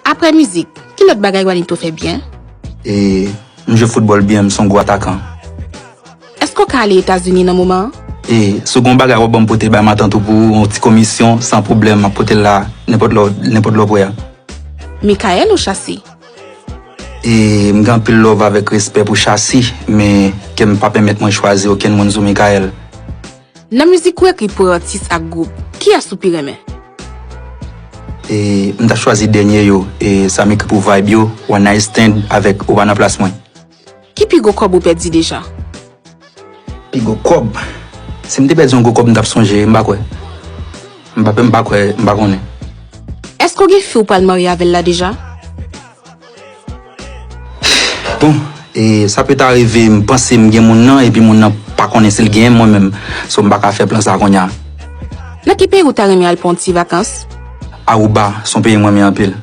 Aprè mizik, ki lòt bagay Wanito fè byen? E, M jwe foutbòl byen, m son gwo atakan. Èske w ka ale Etazini nan moman an? E, Si w gen yon bagay w ap ban m pote bay matant ou pou yon ti komisyon, san pwoblèm, m ap pote l la nenpòt lè w nenpòt lè w p wè a. Mikael ou Shassy? E, M gen anpil love avèk respè pou Shassy, men kè m pa pèmèt mwen chwazi okenn moun sou Mikael. Nan mizik ou ekri pou atis ak gwoup, kiyès ou pi renmen? E m ta chwazi dènye yo e sa m ekri pou vibe yo, One Night Stand avèk Ou pa nan plas mwen. Ki pi gwo kòb ou pèdi deja? Pi gwo kòb? Si m te pèdi yon gwo kòb m t ap sonje, m pa kwè. M pa kwè, m pa konnen. Èske w gen fi ou pral marye avè l la deja? Bon e sa peut arrive m panse m gen moun nan epi moun nan pa konnen si l genyen m mwen menm so m pa ka fè plan sa kounya. Nan ki peyi ou ta renmen al pran yon ti vakans? Aruba son peyi m renmen anpil.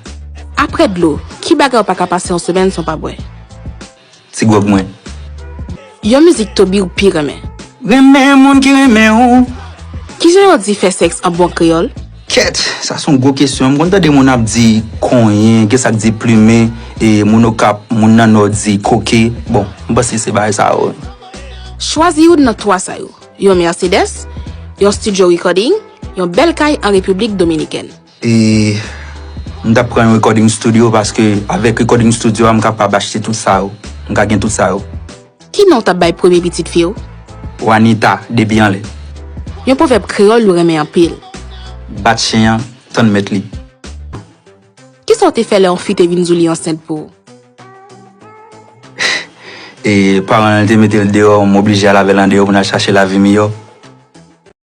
Aprè dlo, ki bagay ou pa ka pase yon semèn san w pa bwè? Ti gwòg mwen. Yon mizik Toby ou pi renmen? Renmen moun ki renmen ou. Kijan yo di fè sèks an bon kreyòl? Kèt! Sa son gwo kesyon. M konn tande moun ap di konyen, gen sa k di plumen, e moun Okap, moun nan Nò di koke. Bon, m panse se bagay sa yo. Chwazi youn nan twa sa yo, yon Mercedes, yon studio recording, yon bèl kay an Repiblik Dominikèn. E m tap pran yon recording studio paske avèk recording studio a m kapab achte tout sa yo. M ka gen tout sa yo. Ki non w tap bay premye pitit fi w? Wanita, depi anlè. Yon pwovèb kreyòl ou renmen anpil? Bat chen an, tann mèt li. Kisa w te fè lè yon fi te vin di w li ansent pou ou? E paran l te mete l deyò, m oblije al avè l andeyò pou n al chache lavi miyò.